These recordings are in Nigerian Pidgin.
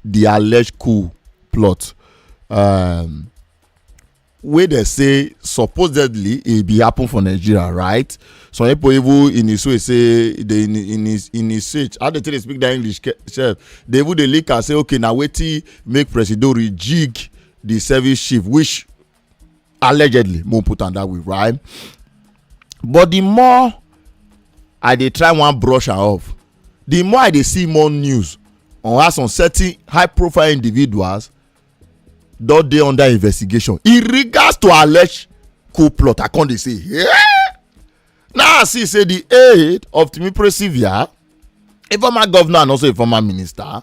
di alleged coup plot um, wey dem say supposedly e bin happen for nigeria right some pipo even in his way say dey in in his in his search how dem take dey speak dat english sef dey even dey link am say okay na wetin make presido rejig di service chief which allegedly mo put am that way right but the more i dey try wan brush am off the more i dey see more news on how some certain high profile individuals don dey under investigation in regards to alleged coup plot i con dey say yeah! now i see say the aid of timipre sylvia a former governor and also a former minister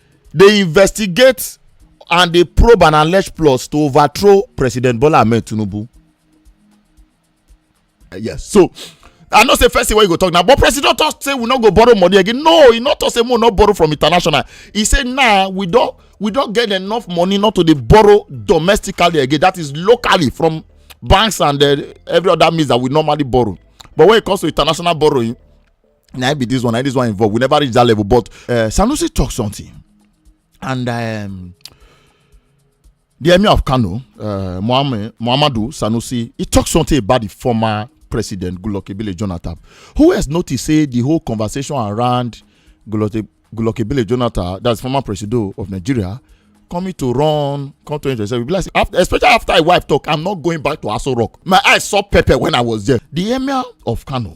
dey investigate and dey probe and allege plots to overthrow president bola ahmed tinubu eh, yes so i know say first thing wey you go talk now but president talk say we no go borrow money again no he no talk say we no borrow from international he say now nah, we don we don get enough money not to dey borrow domestically again that is locally from banks and uh, every other means that we normally borrow but when it comes to international borrowing Now be this one, now this one involved. We never reach that level, but uh, Sanusi talked something, and um, the emir of Kano, uh, Muhammad, Muhammadu Sanusi, he talked something about the former president Goodluck Ebele Jonathan, who has noticed say the whole conversation around Goodluck Ebele Jonathan, that's former president of Nigeria, coming to run come 2027 be like after especially after my wife talk i'm not going back to aso rock my eyes saw pepper when i was there the emir of kano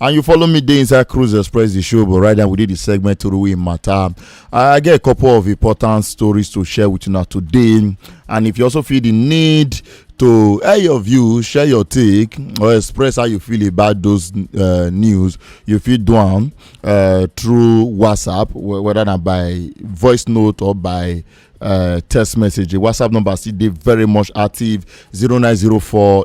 and you follow me dey inside cruise express the show but right now we dey the segment Orui matter i get a couple of important stories to share with you now today and if you also feel the need to air your view share your take or express how you feel about those uh, news you fit do am uh, through whatsapp wh- whether na by voice note or by uh, text message the whatsapp number still dey very much active 0904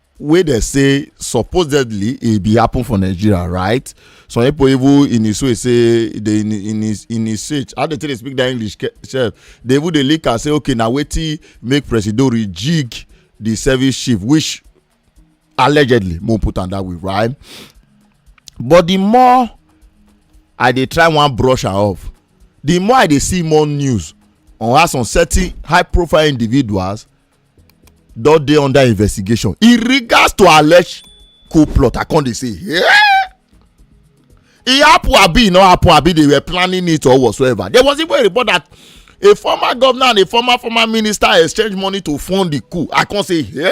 wey dem say supposedly e bin happen for nigeria right some pipo even in his way say in his in his search how dem take dey speak dat english sef dey even dey link am say okay na wetin make presido rejig di service chief which allegedly mo put am dat way right but di more i dey try wan brush am off di more i dey see more news on how some certain high profile individuals don dey under investigation in regards to alleged coup plot i come dey say hey! e happen abi e no happen abi they were planning it or whatsoever there was even a report that a former governor and a former former minister exchange money to fund the coup i come say hey!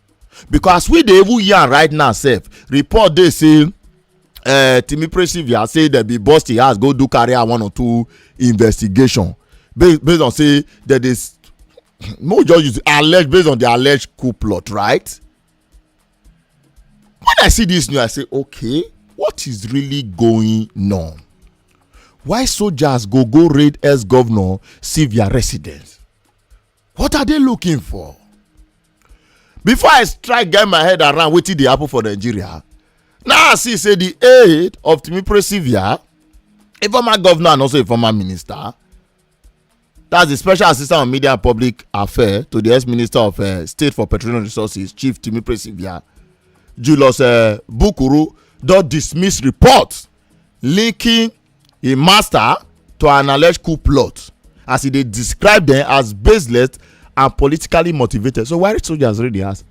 because as we dey even yarn right now sef report dey say uh, timi presivia say dem bin burst im house go do carry out one or two investigation based based on say dem dey no just use allege based on the alleged coup plot right when i see this news i say okay what is really going on why soldiers go go raid ex-governor sylvia residence what are they looking for before i try get my head around wetin dey happen for nigeria now i see say the aid of timi presivia a former governor and also a former minister that's the special assistant on media and public affairs to the ex-minister of uh, state for petroleum resources chief timi presivia julius uh, bukuru don dismiss reports linking a master to an alleged coup plot as e dey describe dem as baseless and politically motivated so why soldiers raid di house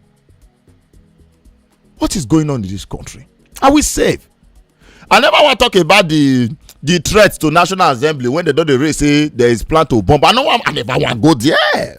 what is going on in this country are we safe i never wan talk about the the threat to national assembly when they don dey raise say there is plan to bomb i no wan i never wan go there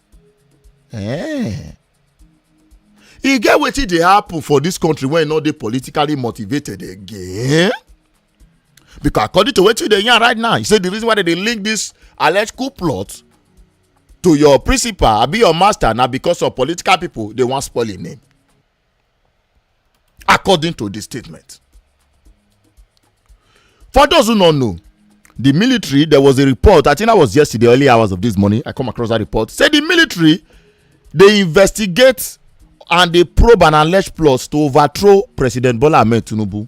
Eh. e get wetin dey happen for dis country wey no dey politically motivated again because according to wetin you dey yarn right now you say the reason why dem dey link this alleged coup plot to your principal abi your master na because of political people dey wan spoil im name according to di statement for those who no know the military there was a report i think that was yesterday early hours of this morning i come across that report say the military dey investigate and dey probe and allege plots to overthrow president bola ahmed tinubu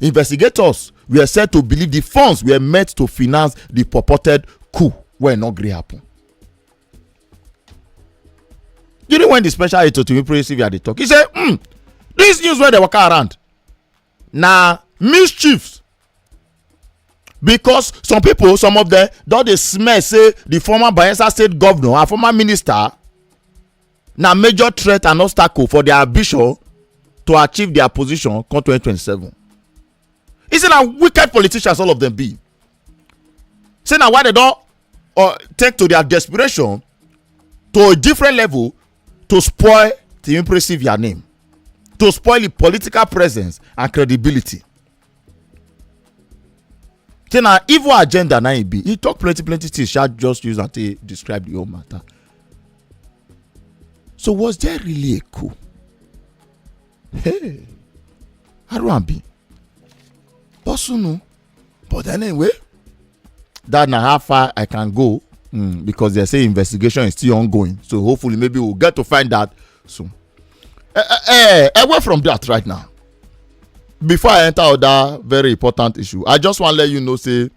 Investigators were said to believe the funds were meant to finance the purported coup wey no gree happen. During when the special aide to Timi Presive had the talk, he said, hmm, this news wey dey waka around na mischiefs because some people some of them don dey smell say the former bayelsa state governor and former minister na major threat and obstacle for dia ambition to achieve dia position come 2027 e say na wicked politicians all of dem be say na why dem don uh, take to dia desperation to a different level to spoil di impressive dia name to spoil di political presence and credibility say na evil agenda na im be he talk plenty plenty things sha just use am take describe the whole matter so was there really a coup hey aruambi bosunu but anyway that na how far i can go mm, because they say investigation is still ongoing so hopefully maybe we'll get to find out So, eh, eh, eh, eh, away from that right now. Before I enter other very important issue, I just want to let you know say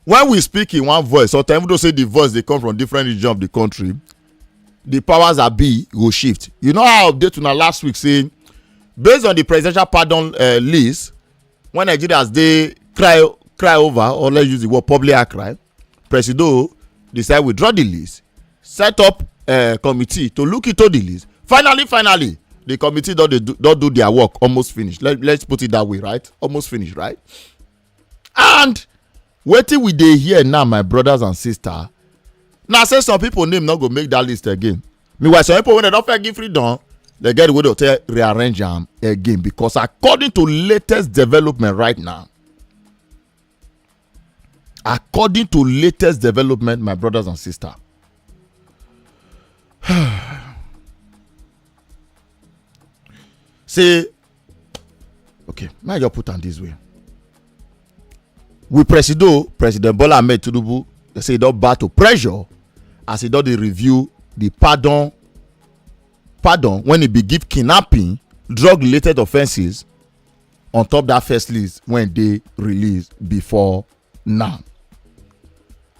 when we speak in one voice, or even though say the voice they come from different region of the country, the powers that be go shift. You know how I update una last week say based on the presidential pardon uh, list when Nigerians dey cry cry over or let's use the word public cry presido decide withdraw di list set up eh, committee to look into di list finally finally the committee don dey don do their work almost finish let let's put it that way right almost finish right and wetin we dey hear now my brothers and sisters na say some people name no go make that list again meanwhile some people wey dem don first give freedom dem get the way to tell rearrange am again because according to latest development right now According to latest development, my brothers and sisters, say, okay, may I just put on this way. We presido, President Bola Ahmed Tinubu, they say he don battle pressure as he don dey review the pardon pardon when he be give kidnapping drug related offences on top that first list wey dey released before now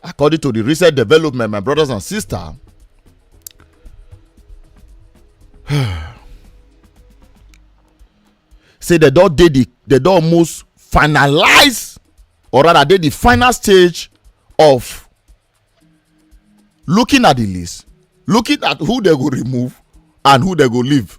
according to the recent development my brothers and sisters say they don dey the they don almost finalize or rather dey the final stage of looking at the list looking at who they go remove and who they go leave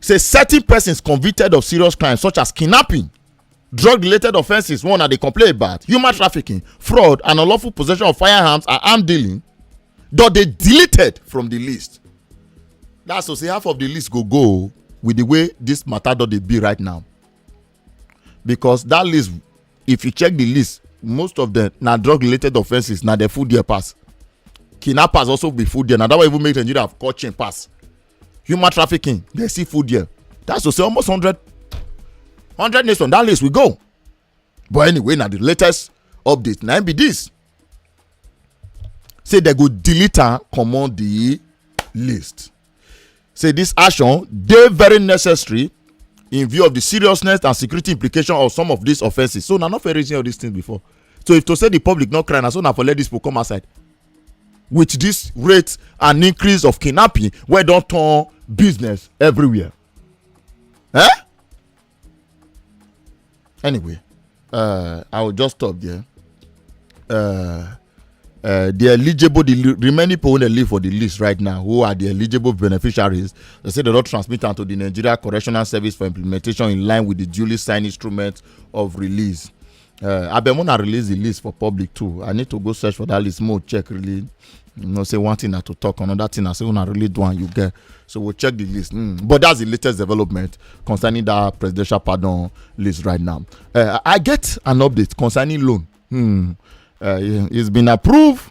say certain persons convicted of serious crimes such as kidnapping drug related offences one na dey complain about human trafficking fraud and unlawful possession of firearms and arm dealing don dey deleted from di list that's to say half of di list go go with di way dis matter don dey be right now because dat list if you check di list most of dem na drug related offences na dem full there pass kidnappers also be full there na that one even make nigeria call chain pass human trafficking they see food there that's to say almost 100 100 nations that list we go but anyway now the latest update now be this say they go delete am comot the list say this action dey very necessary in view of the seriousness and security implication of some of these offences so na not fair reason all these things before so if to say the public no cry na so na for let these people come outside with this rate and increase of kidnapping wey don turn business everywhere eh anyway uh, i will just stop there uh, uh, the eligible the remaining people wey live for the list right now who are the eligible beneficiaries they say they don transmit am to the nigeria correctional service for implementation in line with the duly signed instrument of release Uh, abeg una release the list for public too i need to go search for that list more check really you know say one thing na to talk another thing na say una really do am you get so we'll check the list mm. but that's the latest development concerning that presidential pardon list right now uh, i get an update concerning loan hmm. uh, it's been approved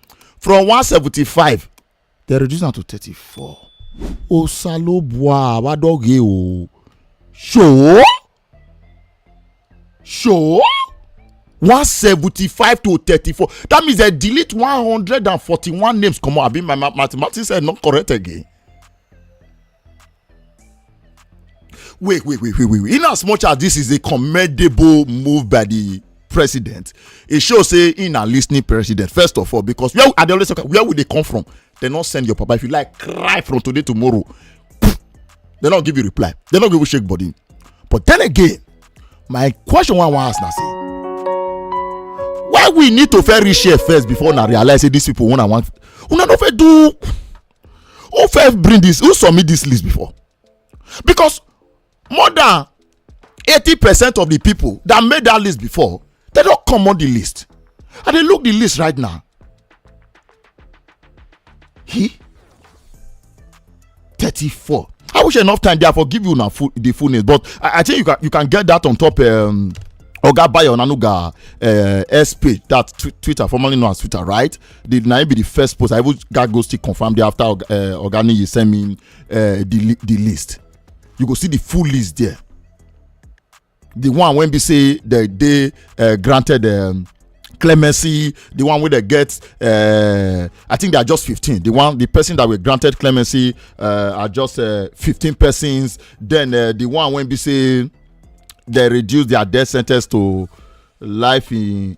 from one seventy five dem reduce am to thirty four osalobua abadoge o ṣòó ṣòó one seventy five to thirty four that means dem delete one hundred and forty one names comot abi my mathematics head no correct again wait wait wait wait wait in as much as this is a commendable move by the president e show say he na lis ten ing president first of all because where i dey always talk where we dey come from dem no send your papa if you like cry from today tomorrow dem no give you reply dem no give you shake body but then again my question wey i wan ask na say why we need to first reach here first before una realize say these people una wan una no fit do who first bring this who submit this list before because more than eighty percent of the people that made that list before they don comot the list i dey look the list right now he thirty-four i wish enough time there for give you na full the full name but i i think you can you can get that on top um, oga bayo onanuga uh, s page that tw twitter formerly known as twitter right the na him be the first post i even gats go still confirm there after oga uh, oga niyi send me uh, the the list you go see the full list there the one wey be say they dey uh, granted um, clemency the one wey dey get uh, i think they are just fifteen the one the person that were granted clemency uh, are just uh, fifteen uh, persons then uh, the one wey be say they reduce their death sentence to life in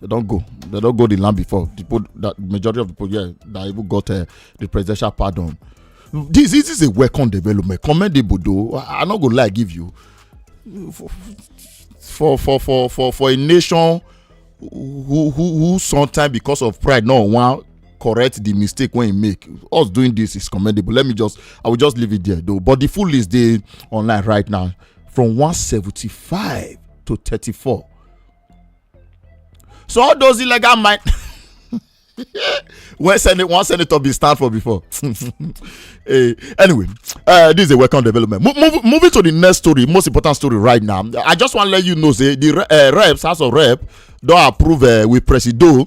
they don't go. They don't go the land before. The people, that majority of the people, yeah, that even got uh, the presidential pardon. This, this is a welcome development. Commendable, though. I, I'm not gonna lie, give you for for for for for a nation who who who sometimes because of pride no wan correct the mistake wey he make us doing this is commendable let me just i will just leave it there though but the full list dey online right now from one seventy-five to thirty-four so all those illegal mine when senate one senator be stand for before hey, eh, anyway uh, this is a welcome development Mo move, moving to the next story most important story right now i just want to let you know say the uh, reps house of rep don approve uh, with presido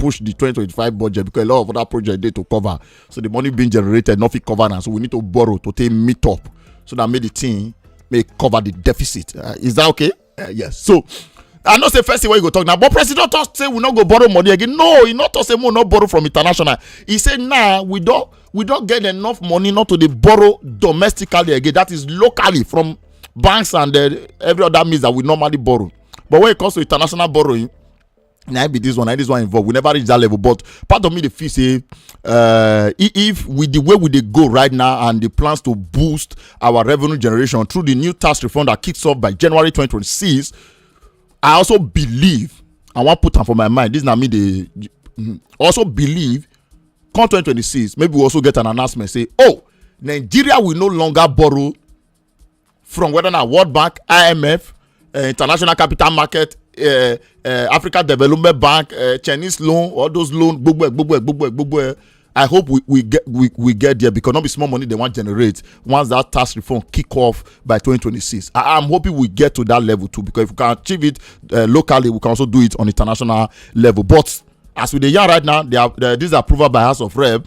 push the 2025 budget because a lot of other projects dey to cover so the money being generated no fit cover am so we need to borrow to take meet up so that make the thing may cover the deficit uh, is that okay uh, yes so i know say first thing wey you go talk now but president talk say we no go borrow money again no he no talk say we no borrow from international he say now nah, we don we don get enough money not to dey borrow domestically again that is locally from banks and uh, every other means that we normally borrow but when it comes to international borrowing na be this one na this one involve we never reach that level but part of me dey feel say uh, if with the way we dey go right now and the plans to boost our revenue generation through the new tax reform that kicks off by january 2026 i also believe i wan put am for my mind this na me dey mm, also believe come 2026 maybe we also get an announcement say oh nigeria will no longer borrow from whether na world bank imf uh, eh, international capital market uh, uh, africa development bank uh, chinese loan all those loans gbogbo ẹ gbogbo ẹ gbogbo ẹ gbogbo ẹ i hope we we get we, we get there because no be small money they wan generate once that tax reform kick off by 2026 i am hoping we get to that level too because if we can achieve it uh, locally we can also do it on international level but as we dey yarn right now they are, uh, this approval by house of rep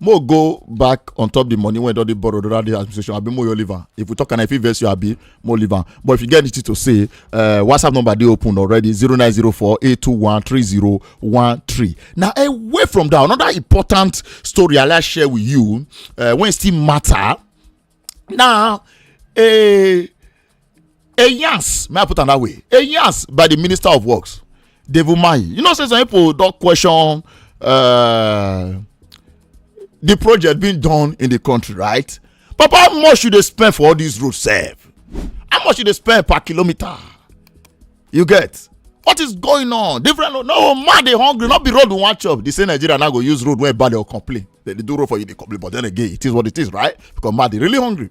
mo go back on top the money wey don dey borrow under the administration abi mo your liver if we talk and i fit vex you abi mo liver but if you get anything to say uh, whatsapp number dey open already zero nine zero four eight two one three zero one three na away from that another important story i like share with you uh, wey still matter na a a yans may i put am that way a yans by the minister of works david mayi you know say some people don question uh, the project being done in the country right papa how much you dey spend for all these roads sef how much you dey spend per kilometre you get what is going on different road no man dey hungry no be road we wan chop the same nigeria now go use road wey bad dey complain dem dey do road for you dey complain but then again it is what it is right because man dey really hungry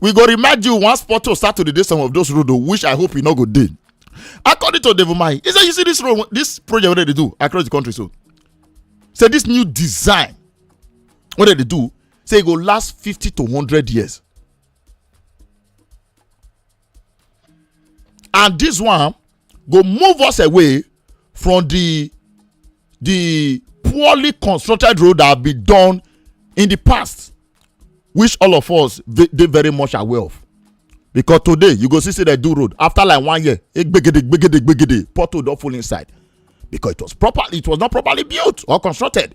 we go remind you once porto start to dey dey some of those road o which i hope e no go dey according to devomai he say you see this road this project wey dem dey do across the country so say this new design wey dem dey do say e go last fifty to hundred years and this one go move us away from the the poorly constructed road that have been done in the past which all of us dey very much aware of because today you go see say dem do road after like one year egbegede gbegede gbegede pothole don full inside because it was proper it was not properly built or constructed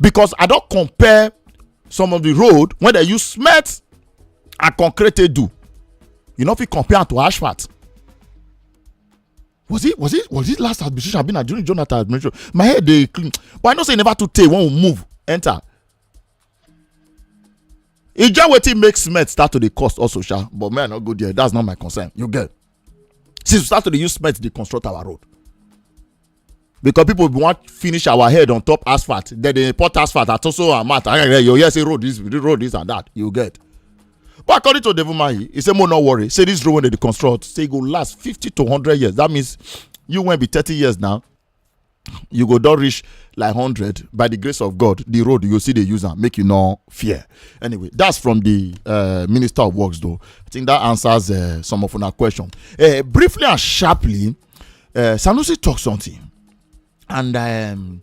because i don compare some of the road wey dem use cement and concrete take do you no fit compare am to asphalt was it was it was it last administration abi na during jonathan administration my head dey clean but i know say e never too tey when we move enter e get wetin make cement start to dey cost also sha but me i no go there that's not my concern you get since we start to dey use cement dey construct our road because people wan finish our head on top asphalt then they import asphalt at also amount and then you hear say road this road this and that you get but according to devil mahi he say mo no worry say this road wey dey construct say e go last fifty to hundred years that means you wey be thirty years now you go don reach like hundred by the grace of god the road you go still dey use am make you no fear anyway that's from the uh, minister of works though i think that answers uh, some of una question uh, briefly and sharply uh, sanusi talk something and um,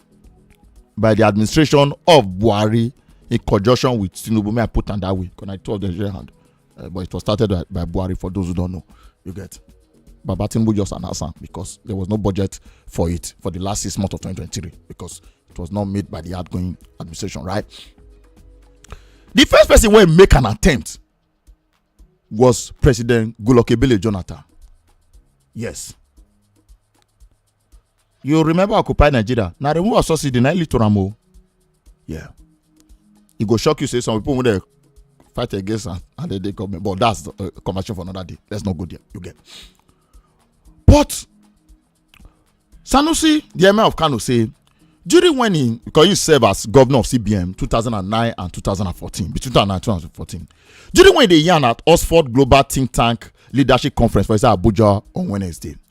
by the administration of buhari in conjunction with tinubu may i put am that way because na two of them share hand uh, but it was started by, by buhari for those who don't know you get baba tinubu just announce am because there was no budget for it for the last six months of 2023 because it was not made by the outgoing administration right the first person wey make an attempt was president goodluck ebele jonathan yes you remember occupy nigeria na removal of subsidy na lead to am o yeah e go shock you say some people wey dey fight against am and dem dey government but that's a uh, conversation for another day let's not go there you get but sanusi the emir of kano say during when he because he serve as governor of cbn 2009 and 2014 between 2009 and 2014 during when he dey yarn at oxford global think tank leadership conference for inside abuja on wednesday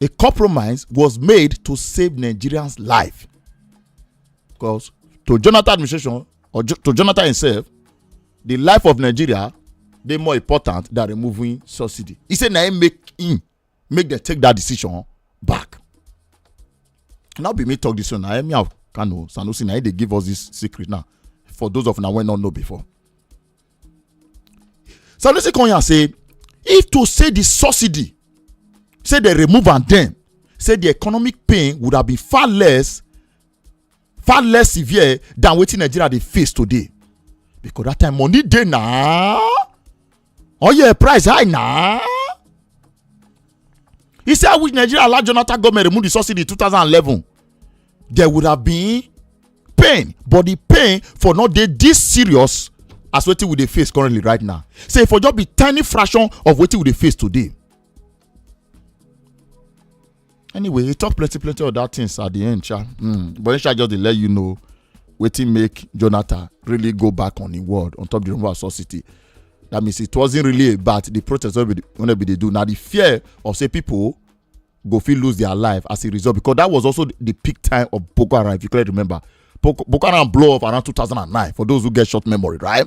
a compromise was made to save Nigerians' life. Because to Jonathan administration or jo to Jonathan himself, the life of Nigeria dey more important than removing subsidy. He say na him make him make dem take that decision back. Now be me talk this one. Na me of Kano Sanusi na him dey give us this secret now. For those of una wey no know before. sanusi konya say if to say the subsidy say they remove and then say the economic pain would have been far less far less severe than wetin nigeria dey face today because that time money dey na oil price high na He said, I wish Nigeria allowed Jonathan government remove the subsidy in 2011. There would have been pain, but the pain for not dey this serious as wetin we dey face currently right now. Say e for just be tiny fraction of wetin we dey face today. Anyway, he talk plenty plenty other things at the end, sha. Mm. But he shall just dey let you know wetin make jonathan really go back on im word on top the rumor of saw city that means it wasn't really about the protest wey we dey do na the fear of say people go fit lose their life as a result because that was also the peak time of boko haram if you clearly remember boko, boko haram blow up around 2009 for those who get short memory right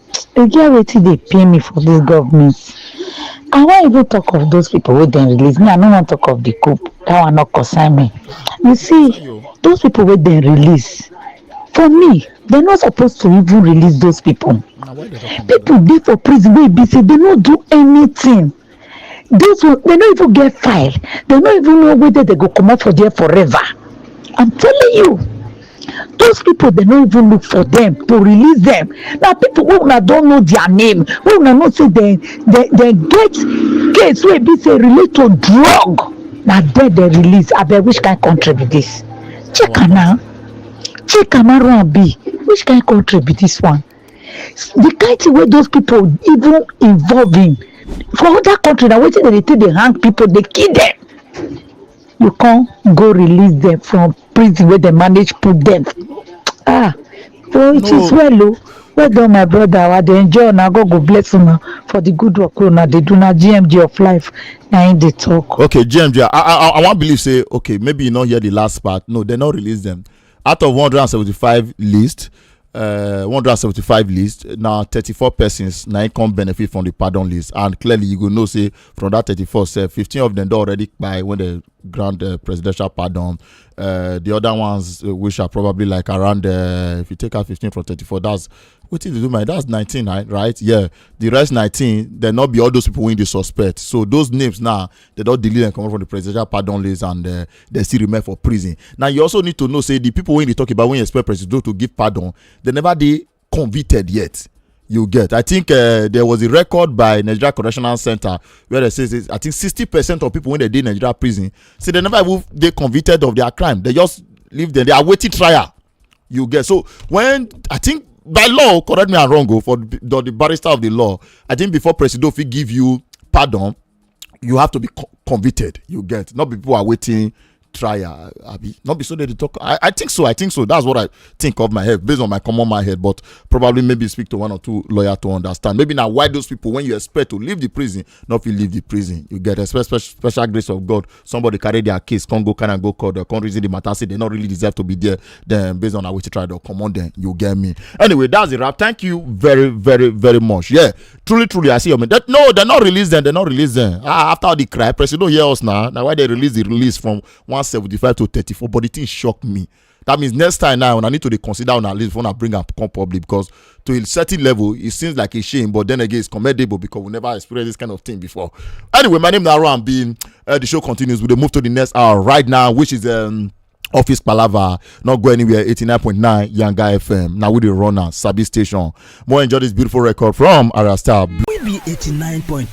E get wetin dey pain me for dis government, I wan even talk of those people wey dem release, me I no wan talk of de coup, dat one no concern me. You see those people wey dem release, for me dem no suppose to even release those people, people dey for prison wey e be sey dem no do anything, These one, they no even get file. They no even know whether they go come out for there forever. I'm telling you. Those people, they no even look for them to release them. Now, people who una don't know their name, who una not say they, they, they get case where be say relate to drug. Now, there they release. I bet which kind country be this? Check am now. Check am now, run be. Which kind country be this one? the kind thing wey those people even involve in for other country na wetin dem dey take dey hang people dey kill them you come go release them from prison wey dem manage put them ah oh it is No. well o well done my brother i dey enjoy una god go bless una for the good work wey una dey do na gmg of life na him dey talk. okay gmg i i i wan believe say okay maybe you no hear the last part no dem no release them out of one hundred and seventy-five list uh, 175 list na 34 persons na im come benefit from the pardon list and clearly you go know say from that 34 sef 15 of them don already kpai when dem grant uh, presidential pardon uh, the other ones uh, which are probably like around uh, if you take out 15 from 34 that's wetin dey do my that's 19 right yeah the rest 19 dem no be all those people wey dey suspect so those names now they don delete dem comot from the presidential pardon list and uh, they still remain for prison now you also need to know say the people wey you dey talk about when you expect presido to give pardon they never dey convicted yet you get i think uh, there was a record by nigeria correctional center where they say i think sixty percent of people wey dey dey nigeria prison say they never even dey convicted of their crime they just leave them they are waiting trial you get so when i think by law correct me i'm wrong o oh, for the, the barrister of the law i think before presido fit give you pardon you have to be co convicted you get not be people are waiting trial abi not be so they talk I, I think so i think so that's what i think of my head based on my common my head but probably maybe speak to one or two lawyer to understand maybe now why those people when you expect to leave the prison not fit leave the prison you get a special special grace of god somebody carry their case come go carry am go court or come reason the matter say they no really deserve to be there then based on how we try to comot them you get me anyway that's the wrap thank you very very very much yeah truly truly i see your man that no they no release them they no release them ah after all the cry press you no hear us now na why they release the release from one seventy five to thirty four but the thing shock me That means next time now, when I need to dey consider on a list when I bring up come public because to a certain level, it seems like a shame, but then again, it's commendable because we never experienced this kind of thing before. Anyway, my name is Aaron B. Uh, the show continues. We'll move to the next hour right now, which is um, office palava not go anywhere 89.9 yanga fm Now we the runner sabi station more enjoy this beautiful record from arastar we be 89.9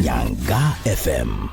yanga fm